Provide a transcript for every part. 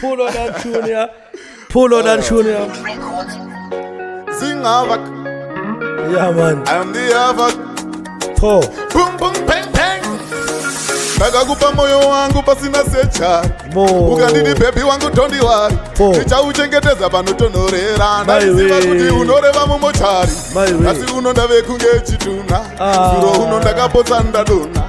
Pull on that junior. Pull on that junior. Sing havoc. Yeah, man. I'm the havoc. Paul. Boom, boom, bang, bang. ndakakupa moyo wangu pasina secha ukandidi bhebhi wangu tondi wari ndichauchengetedza panotonhorera ndaiziva kuti unoreva mumochari asi unonda vekunge chitunha ah. zuro uno ndakapotsa ndadonha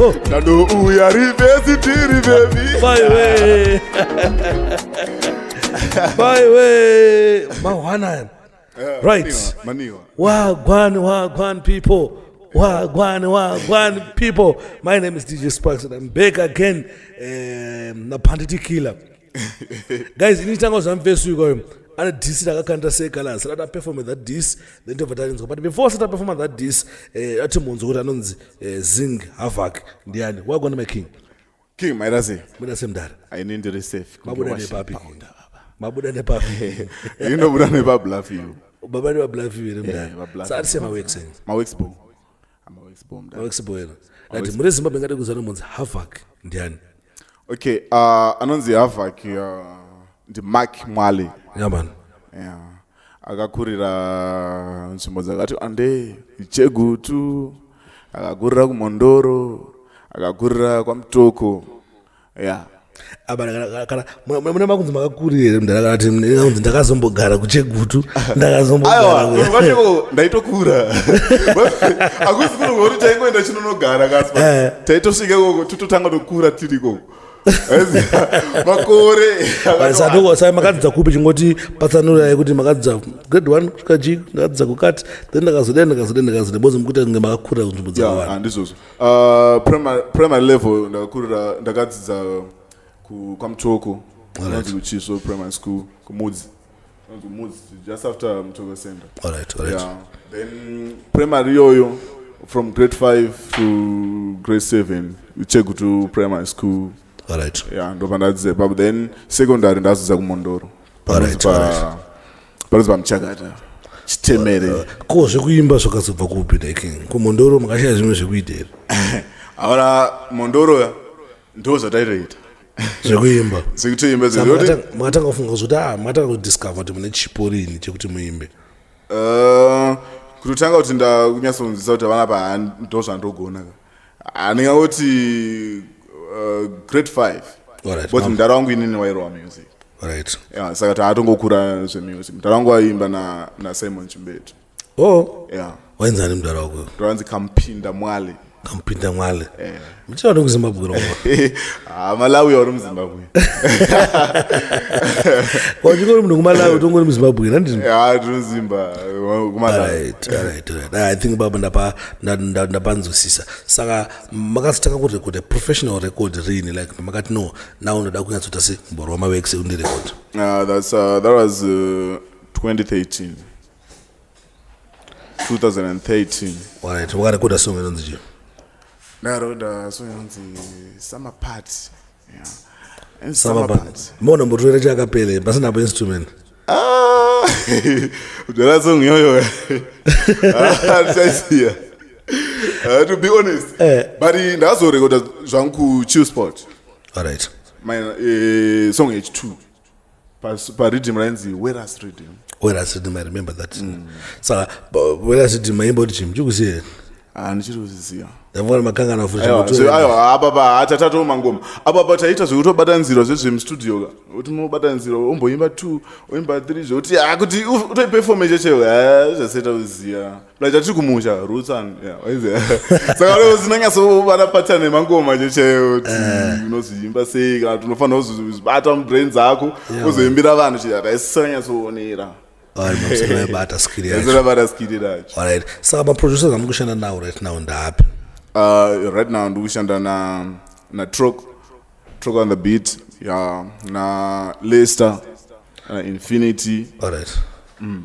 Oh. Ndandouya rivhesi tiri vevi. Bye we. Bye we. Mawana. Eh, right. Maniwa. Wagwan, wagwan people. Wagwan, wagwan people. My name is DJ Sparks and I'm back again. Um, eh, Napanditi Killer. guys ini tanga zvamvesuika uyo ane dis rakakanda sekalasi rati aperforme that dis then tobva tarinzwa but before asati aperforma that dis eh, ati munzwa kuti anonzi eh, zing havak ndiani wagona my king king maira sei muda semdara aine ndiri safe mabuda nepapi mabuda nepapi inobuda nepabluff you baba ndi pabluff you here mdara eh, saati semawex mawex bo mavexboena ati muri zimbabwe ngade kuzana munzi havac ndiani okay uh, anonzi havac uh, ndimark mwale yamani yeah. akakurira nzvimbo dzakati ande chegutu akakurira kumondoro akakurira kwamutoko yeah mune makunzi makakuri here mdara kana ti kunzi ndakazombogara kuchegutu ndakazombogarandaitokura akusi kuno kuti taingoenda chinonogara kasi eh. taitosvika ikoko tototanga tokura tiri ikoko makore sadokosa makadzidza kupi chingoti patsanura yekuti makadzidza grade one kusvika g ndakadzidza kukati then ndakazoda ndakazoda ndakazoda bozi mukuita kunge makakura kunzvimbo dzakawanda Uh, primary, primary level ndakakurira ndakadzidza ku- kwamuchoko Alright. anonzi kuchisvo primary school kumudzi anonzi kumudzi just after muchoko center Alright, alright. yeah. then primary iyoyo from grade 5 to grade 7 chegu to primary school Alright. yeah, ndopandadzidza ipapo then secondary ndadzidza kumondoro Alright, Panonzi pa- alright. Panozi pamuchakata. Chitemere. Uh, ko zvekuimba zvakazobva kupi like ko Mondoro makashaya zvimwe zvekuita here? Ahora Mondoro ya ndo zvataitoita. Zvekuimba. Zvekutoimba zvekuti makatanga kufunga kuti ah makatanga kudiscover kuti mune chipo rini chekuti muimbe. Uh, kutotanga kuti ndakunyasonzisa kuti vana pa ndo zvandogona. handingangoti uh, grade five Alright, but mama. mdara wangu inini wairowa music right yeah, saka taatongokura zvemusic mdara wangu waiimba na, na simon chimbetu oh yeah. wainzani mdara wako ndoranzi kampinda mwale kampinda mwale mchina ndi kuzimbabwe roma Ah, malawi auri muzimbabwe wachingori munhu kumalawi utongori muzimbabwe nandini Yeah, tiri muzimba kumalawi Alright, alright, alright. Ah, i think baba ndapa ndapanzwisisa saka makazotanga kurekoda professional record riini like makati no now ndoda kunyatsoita se mboro wamavek sekundirekoda ah, that's uh, that was uh, 2013 2013 alright wakarekoda song inonzi chii ndarekoda song inonzi summer party mona mbotorera chakapele pasina pa instrument ah, udala song yoyo ndichaisiya ah, ah, to be honest eh. but ndazorekoda zvangu kuchill sport alright my uh, song h2 pariddim rainzi weras riddim weras riddim i remember that mm. saka weras riddim maimba kuti chii muchikuziva here ah, ndichiri kuzisiya ndavona makangana kufuaaiwa apapa atatatawo mangoma apapa taita zvekutobatanzirwa zvezvemstudio ka kuti mobatanzirwa omboimba two oimba three zvekuti akuti utoipefome chechewe zvaseta kuziva like chatiri kumusha roots and yeah waize saka leo zinanyatso vana pattern emangoma checheyo kuti eh. unozoimba sei kana tinofanira kuzozibata mubrain dzako uzoimbira vanhu chii akaisanyatsoonera bata skiribata skiri racho alright saka maproducers amuri kushanda nawo right now ndaapi uh, right now ndiri kushanda na na trock trock on the beat ya na lester na infinity alright mm.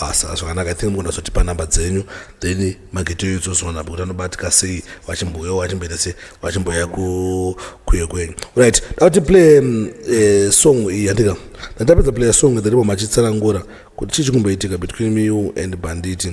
Asa ah, zvakanaka i think mugona kuzotipa number dzenyu then magete uyo tsozoona kuti anobatika sei vachimbouyawo vachimboita sei vachimbouya kuyo kwenyu right dakuti play mm, eh, song iyi yandika ndatapedza playa song dherimo machitsanangura kuti chii chikumboitika between you and banditi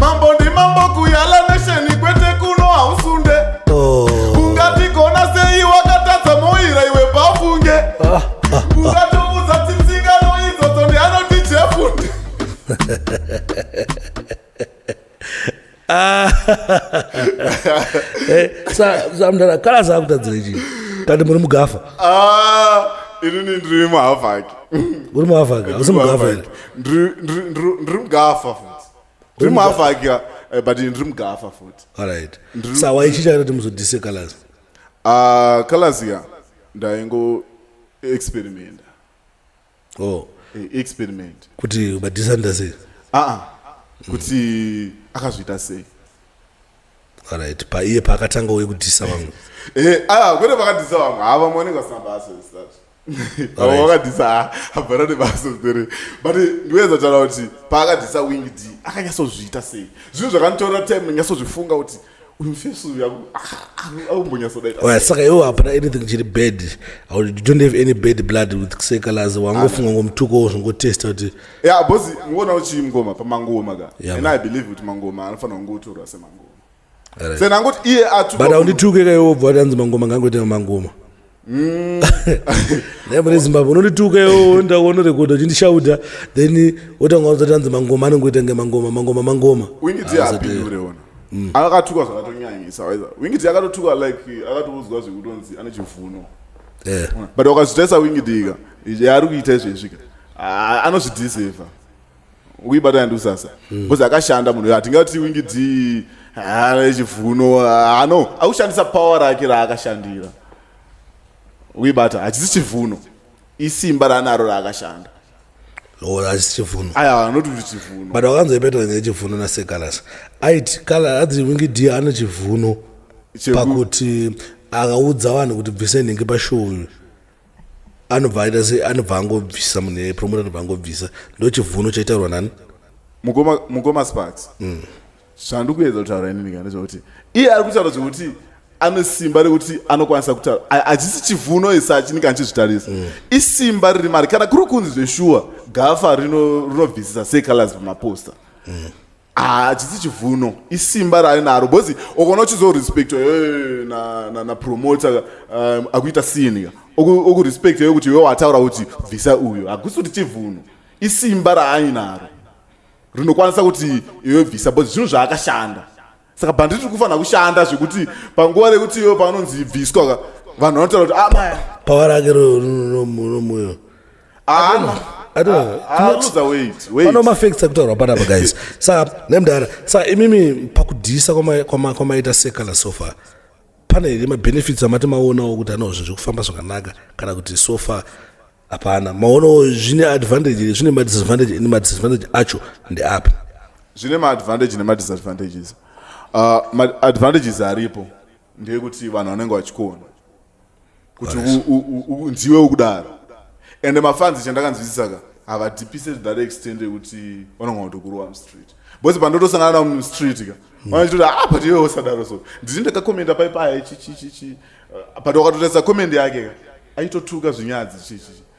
mambo ndi mambo kuyala nesheni kwete kuno hausunde oh. ungatigona sei wakatadza moira iwe pafunge ah, ah, ungatoudza ah. tsitsingano idzodzo ndi anoti jefunde ah. eh, samdara kala zakutadzire chii kati muri mugafa ah, inini ndiri muhavaki uri muhavaki asi mugafa ndiri mugafa futi ndiri muhafa ake eh, but ndiri mugafa futi alright Ndiri- sa waichiita kuti muzodise colors Ah, colors ya ndaingo experimenta oh Eh, experiment kuti madisanda sei aa kuti akazviita sei alright paiye paakatanga uye kudhisa vamwe Eh, ah, kwete vakadhisa vamwe ha vamwe vanenge vasina basa is that avo vakadhisa ah, havana nebasa ere but ndinoedza kutaura kuti paakadhisa wing d akanyatsozviita sei zvinhu zvakanditorera time ndinyatsozvifunga kuti uyu mfesi uyu akumbonyatsodaita saka iwo hapana anything chiri bad you don't have any bad blood with kusekalazi wangofunga ngomutuko wo zvongotesta kuti ya bhozi ngona uchii mngoma pamangoma ka and i believe kuti mangoma anofanira kungotorwa semangoma sena angoti iye atukwa but aundituke kaiwe wobva wati anzi mangoma ngangoite mamangoma mm. naye mune zimbabwe unondituka iwo enda wonorekodha uchindishauta then wotanga wazati anzi mangoma anongoita nge mangoma mangoma mangoma wingiti apiureona mm. akatukwa zvakatonyanyisa waiza wingiti akatotukwa like akatoudzwa zvekutonzi ane chivuno eh. but wakazvitarisa wingiti ika yaari kuita izvezvika ah, anozvidhiseva uibata ndi usasa hmm. because akashanda munhu hatingati wingidzi haana chivuno hano akushandisa power rake raakashandira uibata hachisi chivuno isimba raanaro raakashanda hachisi chivuno aya anoti kuti chivuno but wakanzwa ipetwa nyaya chivuno nasekalasa aiti kala adzi wingidhi ane chivuno pakuti akaudza vanhu kuti bvise nhingi pashow uyu anobva aita se anobva angobvisa munhu yepromota anobva angobvisa ndo chivuno chaitaurwa nani mukoma mukoma sparks mm. zvandiri kuedza kutaura inini kana zvekuti iye ari kutaura zvekuti ane simba rekuti anokwanisa kutaura hachisi chivuno isi achinenge anchizvitarisa mm. isimba riri mari kana kuri kunzi zveshuwa gafa rinobvisisa secalors pamaposta mm. hachisi ah, chivuno isimba raainaro because ukaona uchizorespectwa eh, napromoter na, na um, akuita sinika okurespecta yo kuti iwe wataura kuti bvisa uyo hakusi kuti chivuno isimba raainaro rinokwanisa kuti iwe bvisa because zvinhu zvaakashanda saka bhanditi ri kufanira kushanda zvekuti panguva rekuti iwe paanonzi bviswa vanhu vanotaura kuti amaya ah, pawarake romuyo anomafacts akutaurwa panapa guys sa nemdara sa imimi pakudhisa kwamaita sekala sofa pane here mabenefits amati maonawo kuti anozvo zviri kufamba zvakanaka kana kuti sofa hapana maonawo zvine advantage here zvine madisadvantage ine madisadvantage acho ndeapi zvine maadvantage nemadisadvantages uh, maadvantages aripo ndeyekuti vanhu vanenge vachikuona kuti unziwe ukudaro ende mafanzi chandakanzwisisa ka havadipise to that extent yekuti vanonga kutokurowa mustreet bcause pandotosangana navo mustreet ka hmm. vanachitoti a ah, but iwe usadaro so ndini ndakakomenda paipaye chichichichi uh, but wakatotarisa komend yake ka aitotuka zvinyadzi chichichi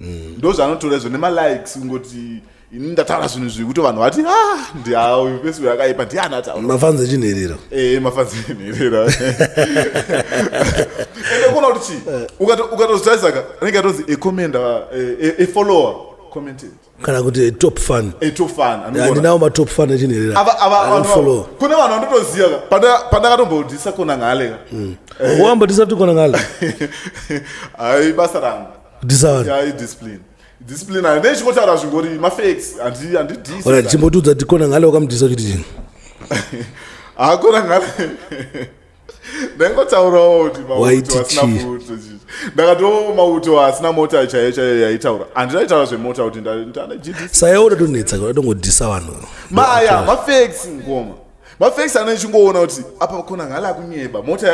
mm. ndozvanotora izvo nemalikes kungoti ini ndataura zvinhu zvivi kuti vanhu vati ah, ndiauyu pesi uyo akaipa ndiani atauramafanzi echinherera ee eh, mafanzi echinherera ende kuona kuti chii ukatozotarisaka anenge atonzi ecommenda efollower eh, e, e commented kana kuti top fan a top fan andinawo matop fan echinherera follow kune vanhu vandotoziva pandakatombodisa kona ngale hmm. eh. wamba disa kuti kona ngale ai basa rangu disawani ai discipline discipline ayo ndechikotaura zvingori mafacts andidisa chimbotiudza kuti kona ngale wakamudisa kuti chini hakona ngale ndaingotaurawo kuti mauto asina mauto ndakatoo mauto asina mota chaiyo chaiyo yaitaura handina itaura zvemota kuti ndanasayawo udatonetsa udatongodhisa vanhu maya mafex ngoma mafex anenge chingoona kuti apa kona ngala akunyeba mota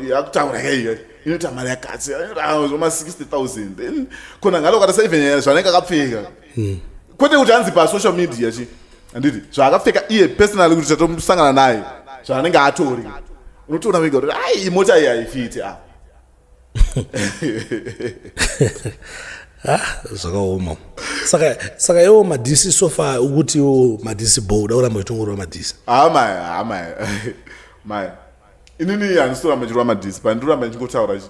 yakutaura yaiyo inoita mari yakati zvoma 60 000 then kona ngala ukatasa even zvanenge akapfeka hmm. kwete kuti hanzi pasocial media chi handiti zvaakapfeka iye personally kuti chatomsangana naye zvaanenge atori unotoona vega kuti ai imota iyi haifiti a ah, zvakaoma saka saka iwo madhisi sofa ukuti iwo madhisi bo uda kuramba uchitongorwa madhisi haa ah, maya haa ah, maya maya inini handitoramba chirwa madhisi pandiramba ndichingotaura chi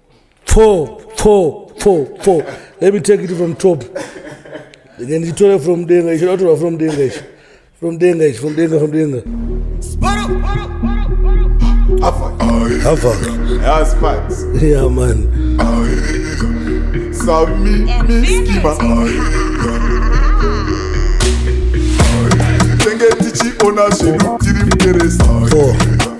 Pfo, pfo, pfo, pfo. Let me take it from top. Then you tore from denga, you should not from denga. From denga, from denga, from denga. Hava. Hava. Yeah, Spats. Yeah, man. Sami, Miskima. Tenge tichi ona zvedu tiri mkeresa. Four.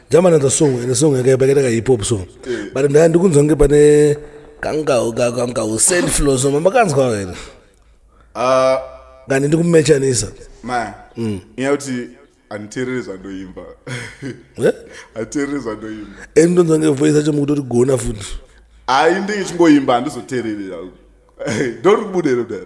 German and the song and the song yakaipa hip hop song but ndaya ndikunzwa kunge pane kangawo kako kangawo send flow so makanzwa wena ah ngani ndikumechanisa ma mm. nyaya kuti anditerere zvandoimba eh? anditerere zvandoimba and ndonzwa nge voice yacho mukutori gona futi hayi ndenge chingoimba handizoterere ndoribudero dara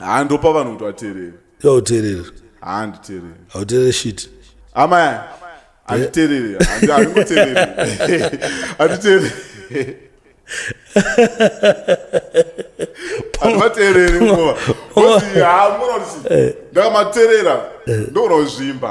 handopa vanhu kuti vateerere yauteerera handiteerere hauteerere shit amai handiteerere Handi- handingoteerere handiteerere handivateerere ngova Kuti, "Ah, munoona kuti ndakamateerera ndoona kuzvimba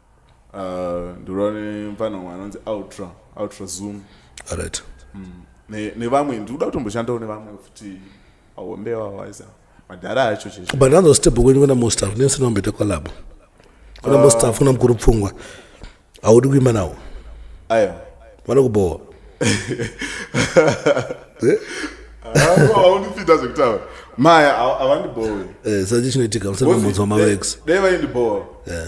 uh, ndirova nemfana umwe anonzi ultra ultra zoom right mm. nevamwe ne ndikuda kutomboshandawo nevamwe futi ahombe wawaisa madhara acho cheshe but another step kwenyu kuna mostaf nesina kumbeta kwalabo kuna uh, mostaf kuna mukuru pfungwa haudi kuimba nawo ayo vanokubowa eh? aundipinda zvekutaura maya avandibowe eh, sachi chinoitika musana mabvunzo mamax dai vaindibowa eh.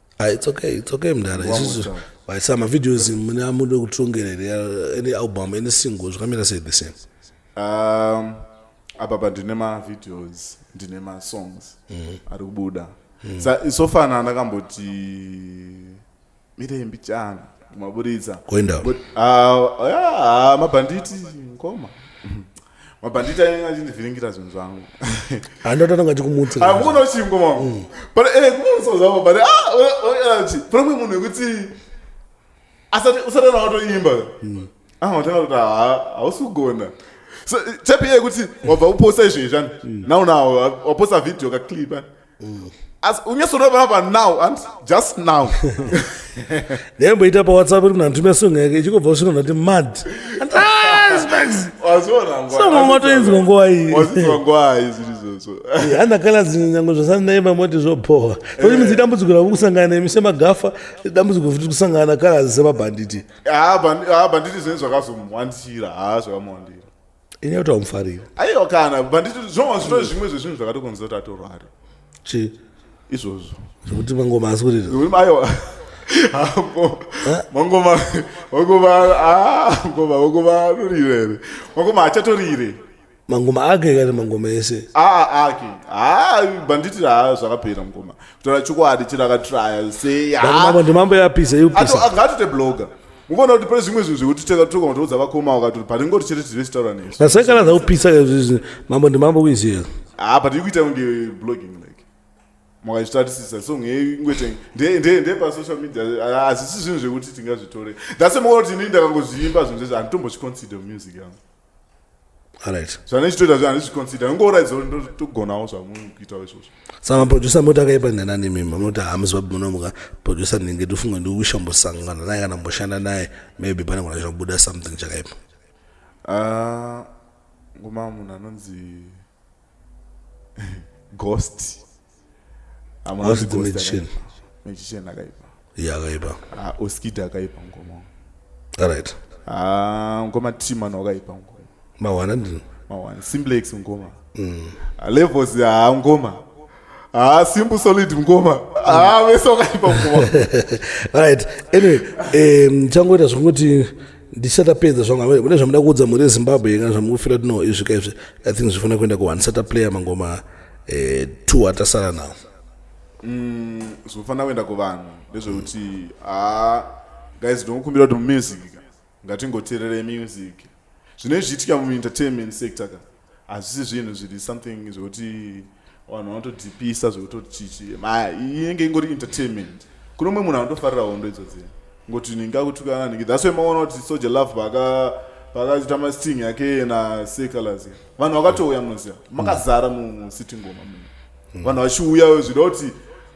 Ah, it's okay, it's okay mdara. Isusu vaisa mavideos mune amude kutongera here any album, any single zvakamira sei the same. Um, apa pa ndine mavideos ndine masongs mm. ari kubuda mm. sa, so far na ndakamboti mirembi chana kumaburitsa kuenda uh, yeah, mabhanditi ngoma mabhanditi ainge achindivhiringira zvinhu zvangu handototanga chikumutsa akuona uchingo mama mm. but eh kumutsa zvangu but ah uyachi pane mwe munhu wekuti asati usati ana watoimba mm. ah watanga kuti hausi kugona so chepi yekuti wabva uposta izvo izvani mm. now now waposta video ka clip eh? mm. as unyasorova apa now and just now ndaimboita pawhatsapp iri munhantume song yake ichikobva kusvika ndati mad wazvionangwatoinzwa nguva iyihandakalazi nyango zvasandaimba moti zvobhowa oti midzi dambudziko ravo kusangana nemi semagafa dambudziko futi kusangana nakalazi semabhanditi bhanditi zvinenge zvakazomuwandira haa zvakamuwandira ini yautawa mufariro aiwa kana banditi zvoma zvitove zvimwe zvezvinhu zvakatokonzera kuti atorware chi izvozvo zvekuti mangoma asi kurira Zvekuti aiwa Hapo. mangoma mangoma ah, mangoma mangoma anorira here mangoma achatorire mangoma ake kana mangoma ese aa ake haa banditi haa zvakapera mukoma kutaura chokwadi chero akatraya sei Mangoma mambo ndimambo yapisa yopisa ngaatoite blogger mukuona kuti pane zvimwe zvinhu zvekuti tega toka matoudza vakoma wakati pane ngoti chete tiri vese taura nesu nasakana zvaupisa izvizvi mambo ndimambo kuiziva haa but ikuita kunge blogging like makazvitarisisa song yeyu ingwete ndee pasocial media hazvisi zvinhu zvekuti tingazvitore thats mukuona kuti inini ndakangozviimba zvinhu zvese handitombochiconsider music yangu zvanechitoita zvandichiconsider nongouraidza togonawo zvamukuitawo izvozvo saka maproducer moti akaipa ndanani mimi munoti hamusi vapi munomuka producer ndinenge ndifunga ndikushambosangana naye kana mboshanda naye maybe pane kuna zvinobuda something chakaipa ah, ngoma munhu anonzi ghost Ghost magician. magician akaipa Yeah, akaipa. Ah, oskid akaipa ngoma All right. Ah, ngoma timan wakaipa ngoma Mawana ndini. mawana simplex ngoma Ah, levels ah, ngoma Ah, simple solid mkoma. Ah, vese wakaipa mkoma. right. Anyway, eh mchangoita zvokuti ndichatapedza zvangu amene kune zvamuda kuudza mhuri yezimbabwe kana zvamukufira kuti no izvi ka izvi i think zvifanira kuenda kuone sataplayer mangoma eh, two atasara nawo mm, zvofanira kuenda kuvanhu ndezvekuti ha ah, guys ndinokumbira kuti mumusika ngatingotererei music zvinenge zvichiitika muentertainment sector ka hazvisi zvinhu zviri something zvekuti vanhu vanotodhipisa zvekutochichi inenge ingori entertainment kune umwe munhu anotofarira hondo idzodzii ngoti ninga kutukana ningi that's why maona kuti soja love paka pakaita masting yake na sekalazia vanhu vakatouya munoziva makazara musiti ngoma muno hmm. vanhu vachiuya zvida kuti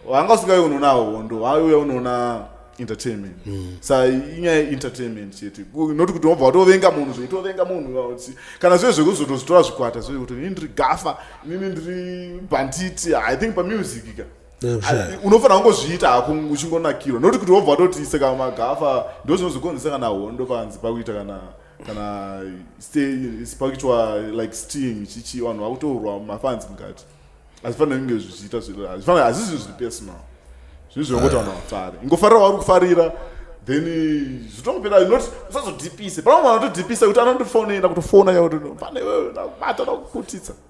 vanga usingave unoona hondo vaiuya unoona entertainment hmm. sa inyaya yeentertainment chete noti kuti wabva watovenga munhu zveitovenga munhu kana zvive zvekuzotozvitora zvikwata zvive kuti ini ndiri gafa inini ndiri banditi i think pamusic ka unofanira kungozviita hako uchingonakirwa noti kuti wobva watoti seka magafa ndo zvinozokonzesa kana hondo panzi pakuita kana kana spakitwa like steam chichi vanhu vakutorwa mafans mukati hazvifanira kunge zvichiita zvifanira hazvisi zviri personal zvinhu zvinongoti vanhu vafare ingofarira wauri kufarira then zvitongopera not usazodhipise pamwe vanhu vatodhipisa kuti anondofonera kutofona yakuti pane iwewe ndakubata ndakukutitsa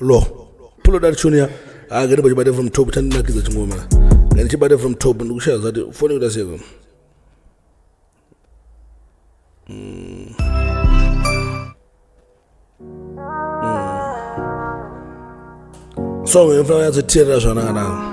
lo pull that tune ya ah ngene bachibate from top chandinakiza chingoma ngene chibate from top ndikushaya zati foni kuda seko mm. mm. song yofana yatsoteerera zvanaka nako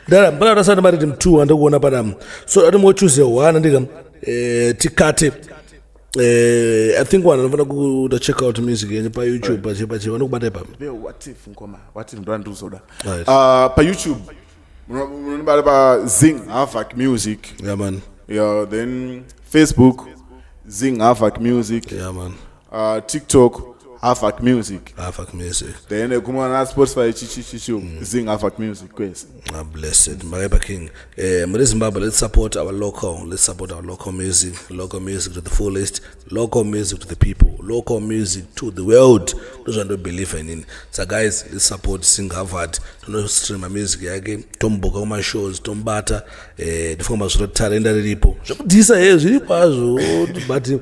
dala mbala tasana mari tim 2 andakuona padam so ati mo choose one ndika eh tikate eh i think one anofana ku to check out music yenye pa youtube pa chepa chepa nokubata ipa be what if ngoma what if ndo anduzoda right. uh, pa youtube unobata pa zing havoc music yeah man yeah then facebook zing havoc music yeah man uh, tiktok havac music havac music then ekumwa na spotify chichichichiu mm. zing havac music kwese ah, blessed makaipa king eh, muri zimbabwe let's support our local let's support our local music local music to the fullest local music to the people local music to the world ndozvandobelieve inini sa guys let's support sing havard tinostreama music yake tomubhoka kumashows tombata eh, ndifunga mazviro tarenda riripo zvekudhisa he eh, zviripo azvo but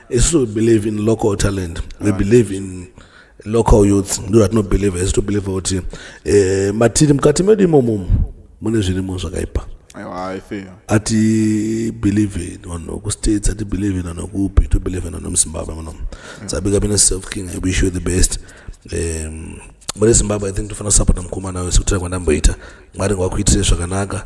isu we believe in local talent we ah. believe in local youths ndo ratinobelieve isu tobelieve kuti eh, matiri mukati medu imomo mune zvirimo zvakaipa ati believe in vanhu kustates ati believe in vanhu kupi to believe in vanhu muzimbabwe muno sabika bine self king i wish you the best um, muri zimbabwe i think tofana kusapota mukomana wese kutira kwandamboita mwari ngawakuitire zvakanaka